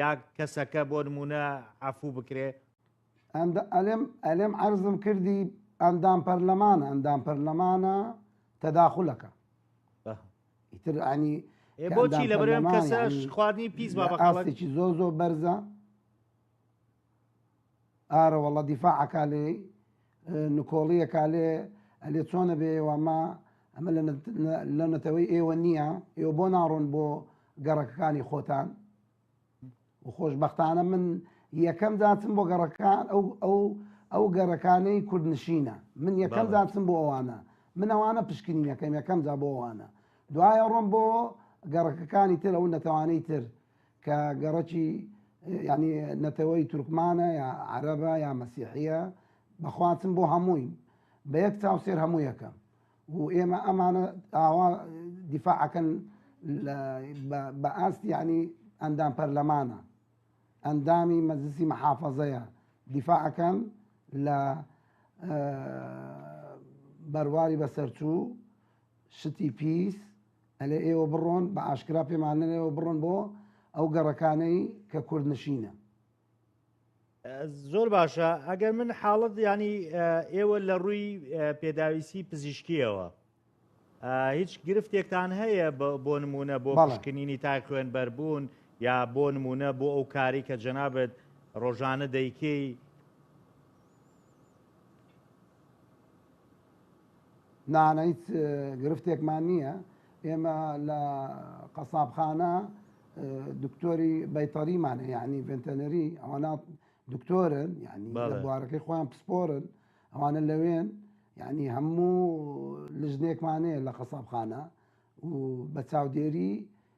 A: یا کەسەکە بۆ نموونە عەفوو بکرێ. ئەلێم
C: ئەلێم عەرزم کردی ئەندام پەرلەمانە ئەندام پەرلەمانە تەداخولەکە ئیتر ئەنی بۆچی لە بەرێم
A: کەسەش خواردنی پیس بابەقاڵێکی زۆ زۆ
C: بەرزە ئارە وەڵا دیفاع ئەکا لێی نکۆڵی ئەکا لێ ئەلێ چۆنە بێ ئێوە ئەمە ئەمە لە نەتەوەی ئێوە نییە ئێوە بۆ ناڕۆن بۆ گەڕەکەکانی خۆتان و خۆشببختانە من یەکەم داچم بۆ گەڕەکان ئەو ئەو ئەو گەڕەکانەی کوردنشینە من یەکەم داچم بۆ ئەوانە من ئەوانە پشکنینەکەم یەکەم جا بۆ ئەوانە دوایە ڕۆم بۆ گەڕەکەکانی تر ئەو نەتەوانەی تر کە گەڕەکی یانی نەتەوەی تورکمانە یا عەرەبە یا مەسیحیە بەخواتم بۆ هەمووین بە یەک چاو سێر هەموویەکە و ئێمە ئەمانە ئاوا دیفاعەکەن بە ئاست یانی ئەندام پەرلەمانە ئەندامی مەزسی مەحافەزەیە دیفاعەکەن لە بەرواری بەسەرچوو شتی پیس ئەلێ ئێوە بڕۆن بە ئاشکرا پێمان نەلێن ئێوە بڕۆن بۆ ئەو گەڕەکانەی کە کوردنشینە.
A: زۆر باشە ئەگەر من حاڵت ینی ئێوە لە ڕووی پێداویستی پزیشکیەوە هیچ گرفتێکتان هەیە بۆ نمونە بۆ بەشکنینی تای خوێن بەربوون یا بۆ نمونە بۆ ئەو کاری کە جەنابەت ڕۆژانە دەیکەی
C: نا نا هیچ گرفتێکمان نییە ئێمە لە قەسابخانە دکتۆری بەیتەریمانە یعنی ڤنتەنەری ئەوانە دکتۆرن یعنی بوارەکەی خۆیان پسپۆرن ئەوانە لەوێن یعنی هەموو لژنێکمانەیە لە قەسابخانە و بە چاودێری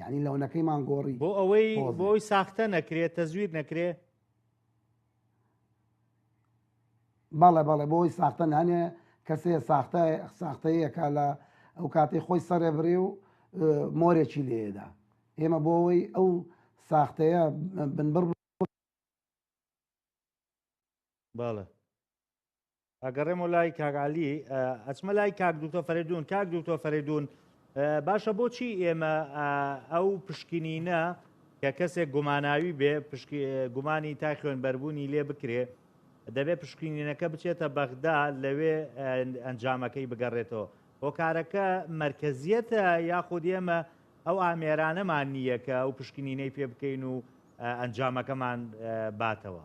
C: یانی لەونەکەیمان گۆڕی بۆ ئەوەی بۆی
A: ساختە نەکرێت تەزویر نەکرێ
C: بەڵێ بەڵێ بۆی ساختە نانێ کەسێ ساختە ساختەیەکە لە ئەو کاتی خۆی سەرێ بڕێ و مۆرێکی لێدا ئێمە بۆەوەی ئەو ساختەیە بنبڕ باڵە
A: ئەگەڕێمەوە لای کاک عەلی ئەچمە لای کاک دوکتۆر فەرەیدون کاک دوکتۆر فەرەیدون باشە بۆچی ئێمە ئەو پشکنینە کە کەسێک گوماناوی بێ گومانی تای خوێنبەربوونی لێ بکرێ دەبێ پشکینینەکە بچێتە بەغدا لەوێ ئەنجامەکەی بگەڕێتەوە هۆکارەکە مرکزیەتە یاخود ئێمە ئەو ئامێرانەمان نییە کە ئەو پشکنینەی پێ بکەین و ئەنجامەکەمان باتەوە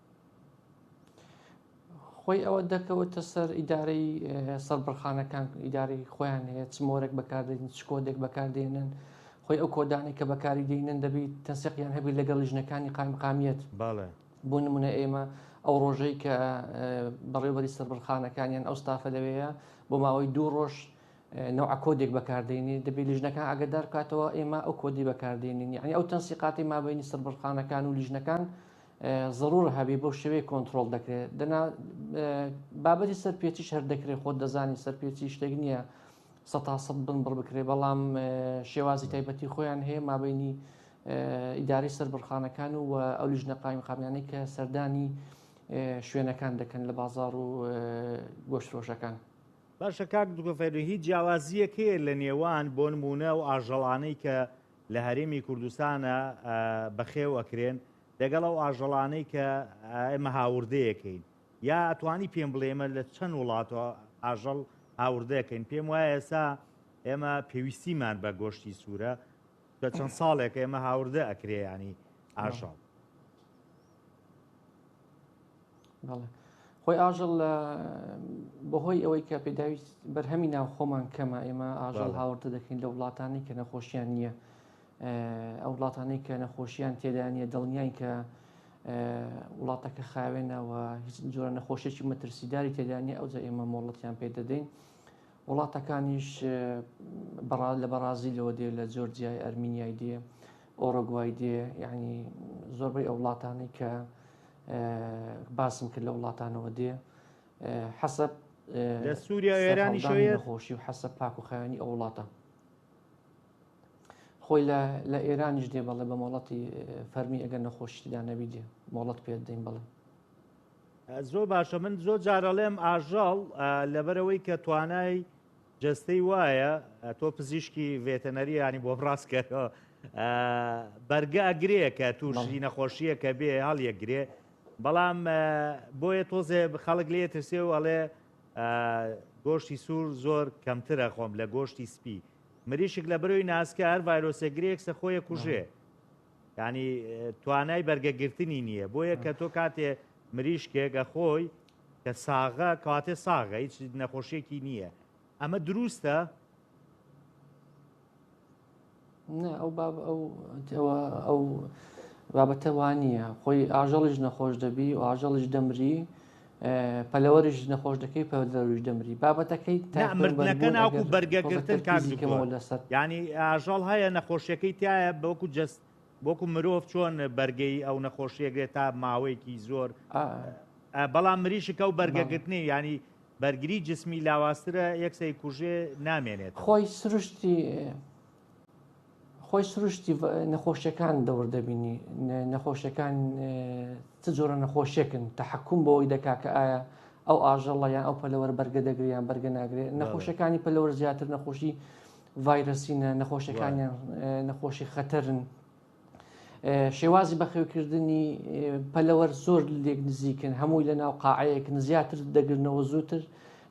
B: خۆی ئەوە دەکەوتە سەر ئیدارەی سەربڕخانەکان ئیدارەی خۆیان هەیە چ مۆرەک بەکاردێن چ کۆدێک بەکاردێنن خۆی ئەو کۆدانی کە بەکاری دێنن دەبیت تەسەقیان هەبی لەگەڵ ژنەکانی قایمقامیت باڵێ بۆ نمونە ئێمە ئەو ڕۆژەی کە بەڕێوبەری سەربڕخانەکانیان ئەو ستافە لەوەیە بۆ ماوەی دوو ڕۆژ نەوە کۆدێک بەکاردێنی دەبێت لیژنەکان ئەگەدار بکاتەوە ئێمە ئەو کۆدی بەکاردێنین یعنی ئەو تەنسیقاتی مابینی سەربڕخانەکان و لیژنەکان زەڕوور هەبێ بەو شێوەیە کۆنتڕۆڵ دەکرێت دەنا بابەتی سەرپێچیش هەر دەکرێت خۆت دەزانی سەرپێچی شتێک نییە سە تا سەد بن بڕ بکرێت بەڵام شێوازی تایبەتی خۆیان هەیە مابینی ئیداری سەربڕخانەکان و ئەو لیژنە قایم قامیانەی کە سەردانی شوێنەکان دەکەن لە بازار و گۆشتفرۆشەکان. باشە
A: کاک دکتۆر فەیروون هیچ جیاوازییەک هەیە لە نێوان بۆ نموونە ئەو ئاژەڵانەی کە لە هەرێمی کوردستانە بەخێو ئەکرێن دەگەڵ ئەو ئاژەڵانەی کە ئێمە هاوردەیەکەین یا ئەتوانی پێم بڵێ ئێمە لە چەند وڵاتەوە ئاژەڵ هاوردەکەین پێم وایە ئێستا ئێمە پێویستیمان بە گۆشتی سوورە بە چەند ساڵێک ئێمە هاوردە ئەکرێ ینی ئاژەڵ
B: خۆی ئاژەڵ لە بەهۆی ئەوەی کە پێداویست بەرهەمی ناو خۆمان کەمە ئێمە ئاژەڵ هاوردە دەکەین لە وڵاتانی کە نەخۆشیان نییە ئەو وڵاتانەی کە نەخۆشیان تێدانە دڵنیان کە وڵاتەکە خاوێنەوە هیچ جۆرە نەخۆشیی مەترسیداری تێدانی ئەو جە ئێمە مۆڵەتیان پێ دەدەین وڵاتەکانیش لە بەڕازیلەوە دێ لە جۆرجیای ئەرمینیای دێ ئۆرۆگوای دێ یعنی زۆربەی ئەو وڵاتانەی کە باسم کرد لە وڵاتانەوە دێ حەسەب لە
A: سووریا ئێرانی خۆشی و حەسە پاک
B: و خیانی ئەو وڵاتە خۆی لە ئێرانیش دێ بەڵێ بە مۆڵەتی فەرمی ئەگەر نەخۆشیدا نەبی دێ مۆڵەت پێ دەین بڵێ
A: زۆر باشە من زۆر جارەڵێم ئاژەڵ لەبەرەوەی کە توانای جەستەی وایە تۆ پزیشکی ڤێتەنەری ینی بۆ بڕاست کەەوە بەرگە ئەگرێ کە تووشی نەخۆشیە کە بێ هەڵ یەکگرێ بەڵام بۆیە تۆزێ خەڵک لێ ترسێ و ئەڵێ گۆشتی سوور زۆر کەمترە خۆم لە گۆشتی سپی مریشک لە برۆی ناسکە هەر ڤایرۆسێگرێکسە خۆیە کوژێ یانی توانای بەرگە گرتنی نییە بۆیە کە تۆ کاتێ مریشکێک ئەخۆی کە ساغە کاتێ ساغە هیچ نەخۆشیێکی نییە ئەمە دروستە
B: نه ئەو باب ئەو ئەوە ئەو بابەتەوانە خۆی ئاژەڵیش نەخۆش دەبی و ئاژەڵیش دەمری پەلەوەریش نەخۆش دەکەی پەدەروش دەمری بابەتەکەی تامردنەکە ناوک
A: و بەرگەگرتن کارزیکەمەوە لەسەر ینی ئاژەڵ هەیە نەخۆشیەکەی تایە بەوەکو جست بۆکو مرۆڤ چۆن بەرگەی ئەو نەخۆشیەگرێت تا ماوەیەکی زۆر بەڵام مریشکە و بەرگەگرتنی ینی بەرگری جسمی لاوااسترە یەکسەی کوژێ نامێنێت خۆی سروشتی
B: خۆی سروشتی نەخۆشیەکان دەور دەبینی نەخۆشیەکان چ جۆرە نەخۆشیەکن تحکم بەوەی دەکا کە ئایا ئەو ئاژەڵە یان ئەو پەلەوەر بەرگە دەگریان بەرگە ناگرێت نەخۆشەکانی پەلەوەر زیاتر نەخۆشی ڤایرسینە نەخۆشەکانیان نەخۆشی خەتەرن شێوازی بەخێوکردنی پەلەوەر زۆر لێک نزیکن هەمووی لە ناو قاعەیەک نزیاتر دەگرنەوە زووتر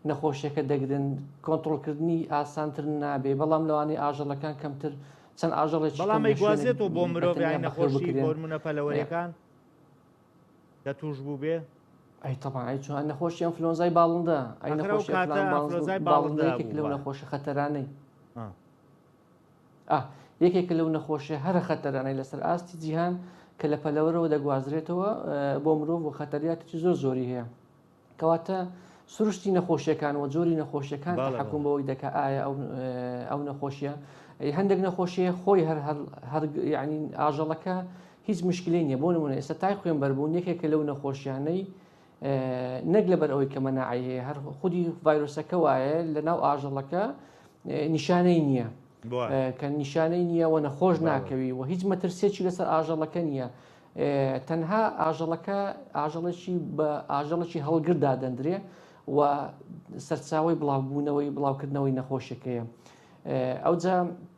B: نەخۆشیەکە دەگرن کۆنتترۆلکردنی ئاسانتر نابێ بەڵام لەوانی ئاژەڵەکان کەمتر چەند ئاژەڵێک بەڵامی گوازێتەوە
A: بۆ مرۆڤ نەخۆشی بۆرمونە پەلەوەریەکان کە توش بوو بێ ئەی تەبان
B: ئەی چۆن نەخۆشی ئەم فلۆنزای باڵندە ئەی نەخۆشی باڵندەیەکێک لەو نەخۆشە خەتەرانەی ئا یەکێکە لەو نەخۆشیە هەرە خەتەرانەی لەسەر ئاستی جیهان کە لە پەلەوەرەوە دەگوازرێتەوە بۆ مرۆڤ و خەتەریاتێکی زۆر زۆری هەیە کەواتە سروشتی نەخۆشیەکان و جۆری نەخۆشیەکان حکوم بەوەی دەکە ئایا ئەو نەخۆشیە هەندێک نەخۆشیە خۆی هەر هەر یعنی ئاژەڵەکە هیچ مشکلی نیە بۆ نمونە ئێستا تای خوێن بەربوون یەکێکە لەو نەخۆشیانەی نەک لەبەر ئەوەی کە مەناعەی هەیە هەر خودی ڤایرۆسەکە وایە لە ناو ئاژەڵەکە نیشانەی نییە کە نیشانەی نییە و نەخۆش ناکەوی و هیچ مەترسێکی لەسەر ئاژەڵەکە نییە تەنها ئاژەڵەکە ئاژەڵێکی بە ئاژەڵێکی هەڵگردا دەندرێ و سەرچاوی بڵاوبوونەوەی بڵاوکردنەوەی نەخۆشەکەیە ئەوجا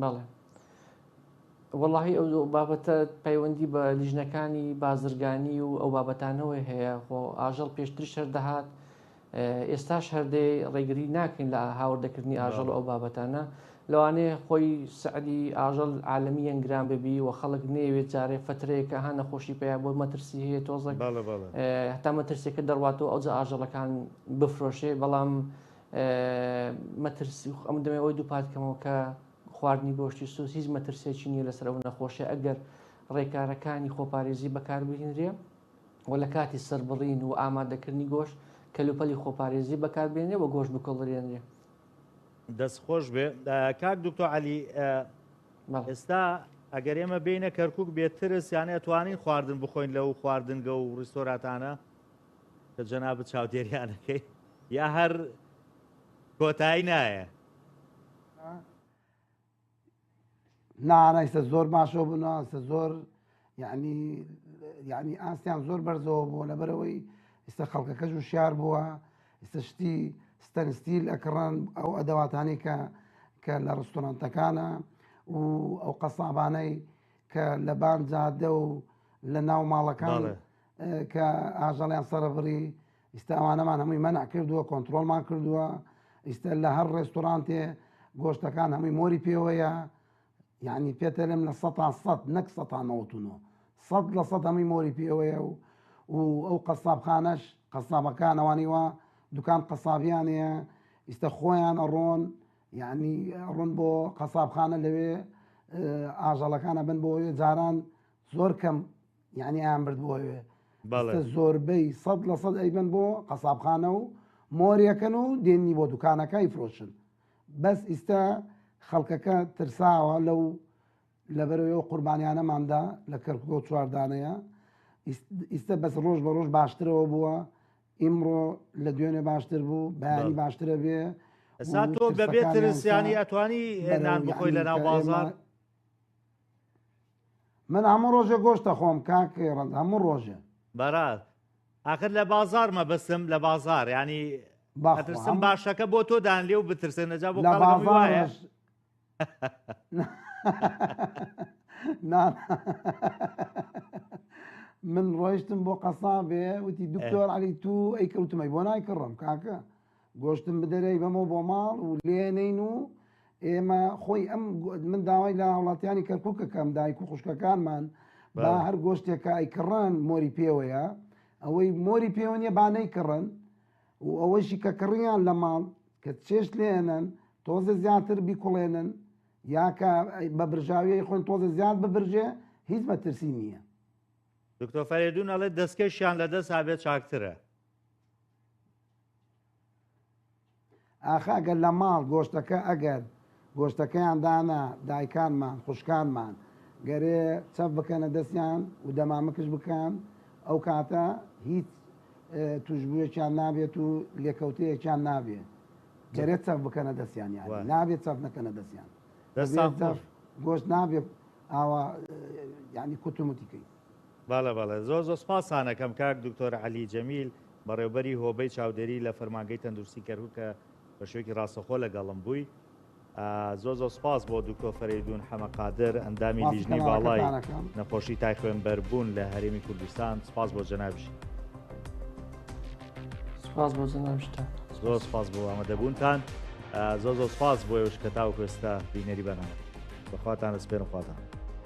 A: بەڵێ
B: وەڵاهی ئەو بابەتە پەیوەندی بە لیژنەکانی بازرگانی و ئەو بابەتانەوەی هەیە خۆ ئاژەڵ پێشتری شەر دەهات ئێستاش هەردەی ڕێگری ناکەین لە هاوردەکردنی ئاژەڵ ئەو بابەتانە لەوانەیە خۆی سعدی ئاژەڵ عاالمی یەنگران ببی و خەڵک نێوێت جارێ فترەیەکە هە نەخۆشی پێیا بۆ مەترسی هەیە تۆزە هەتا مەترسێکە دەڕواتەوە ئەوجا ئاژەڵەکان بفرۆشێ بەڵام مەترسی ئەم دەمێ ئەوەی دووپات کەمەوە کە خواردنی گۆشتی سوس هیچ مەترسێکی نییە لەسەر ئەو نەخۆشی ئەگەر ڕێکارەکانی خۆپارێزی بەکاربهێنرێ و لە کاتی سربڕین و ئامادەکردنی گۆش کەلوپەلی خۆپارێزی بەکاربێنێ و گۆش بکڵدرێنێ دەست
A: خۆش بێ کاک دکتۆ علی ئێستا ئەگەر ئێمە بینە کەرکک بێترس یانە توانین خواردن بخۆین لەو خواردنگە و ڕیستۆراتانە کە جەنابت چاودێریان ئەکەی یا هەر کۆتایی
C: نایە؟ نا ئەیستا زۆر باشەوە بوون ئەستا زۆر یعنی یعنی ئاستیان زۆر بەرزەوە بووە لەبەرەوەی ئستا خەڵکەکەش و شار بووە ئستا شتی ستەنستیل ئەکڕان ئەو ئەدەواتانی کە کە لە ڕستۆرانتەکانە و ئەو قەسابانەی کە لە بان جادە و لە ناو ماڵەکان کە ئاژەڵیان سەرەبڕی ئیستا ئەوانەمان هەمووی مەنع کردووە کۆنتترۆلمان کردووە ئیستا لە هەر ڕێستورانتێ گۆشتەکان هەمووی مۆری پێوەیە یعنی پێتەلم لە سە سەد نەک سەتانەوەتونۆ سەد لە سەد هەمووی مۆری پێوەیە و و ئەو قەسابخانەش قەسابەکانەوانی وە دوکان قەسابیانەیە ئیستا خۆیان ئەڕۆن یعنی ڕۆن بۆ قەسابخانە لەوێ ئاژەڵەکانە بن بۆ جاران زۆر کەم یانی ئەیان بردبووە وێ بەڵێ ئێستا زۆربەی سەد لە سەد ئەیبەن بۆ قەسابخانە و مۆریەکەن و دێنی بۆ دوکانەکەی فرۆشن بەس ئیستا خەڵکەکە ترساوە لەو لەبەرەوەی ئەو قوربانیانەماندا لە کەرکوکە و چواردانەیە ئیس- ئیستا بەس ڕۆژ بە ڕۆژ باشترەوە بووە ئیمڕۆ لە دوێنێ باشتر بوو بەیانی بەڵێ. باشترە بێ ئەسا و تۆ بەبێ ترسەکانیان
A: ترس یانی سا ئەتوانی بەرەو نان بخۆی یعنی لە ناو کە ئێمە بازاڕ
C: من هەموو ڕۆژێ گۆشت دەخۆم کاک ڕەنج هەموو ڕۆژێ. بەڕاز
A: ئاخر لە بازاڕ مەبەستم لە بازاڕ یانی بەخوا ئەترسم هەموو باشەکە بۆ تۆ دان لێ و بترسن ئەجا بۆ لە خەڵک هەمووی وایە بازاڕەش نا
C: من ڕۆیشتم بۆ قەسابێ وتی اه. دکتۆر عەلی تو ئەیکڕ وتم ئەی بۆ نایکڕم کاکە گۆشتم بدەرێ ئەیبەمەوە بۆ ماڵ و لێنین و ئێمە خۆی ئەم من داوای لە هاوڵاتیانی کەرکک کەکەم دایک و خوشکەکانمان با هەر گۆشتێکە ئەیکڕن مۆری پێوەیە ئەوەی مۆری پێوە نیە با نەیکڕن و ئەوەشی کە کڕیان لە ماڵ کە چێش لێنن تۆزە زیاتر بیکوڵێنن یاکە بە برژاویی خۆن تۆزە زیاد ببرژێ هیچ مەترسی نییە دکتۆ
A: فەرێدون ئەڵێ دەستکەشیان لەدەست هابێت چاکترە.
C: ئاخە ئەگەر لە ماڵ گۆشتەکە ئەگەر گۆشتەکەیان دانا دایکانمان خوشکانمان گەرێ چەپ بکەنە دەستیان و دەمامکش بکەن ئەو کاتە هیچ توشبووەکیان نابێت و لێکەوتەیەکیان نابێت گەرێت چەف بکەنە دەستیان یان نابێت چەف نەکەنە دەستیان گۆشت نابێت ئاوا ینی کوتموتیکەی بەڵێ بەڵێ
A: زۆر زۆر سپاسانەکەم کاک دکتۆر عەلی جەمیل بەڕێوبەری هۆبەی چاودێری لە فەرمانگەی تەندروستی کەرکوک کە بە شێوەکی ڕاستەخۆ لەگەڵم بووی زۆ زۆ سپاس بۆ دکتۆ فەریدون حەمە قادر ئەندامی لیژنەی باڵای نەخۆشی تای خوێنبەربوون لە هەرێمی کوردستان سپاس بۆ جەنابش سپاس بۆ
B: جەنابشتە زۆر سپاس بۆ
A: ئامادەبوونتان زۆ زۆ سپاس بۆ ێوش کە تاو کوێستا بینەری بەنامە بەخواتان لە سپێن خواتان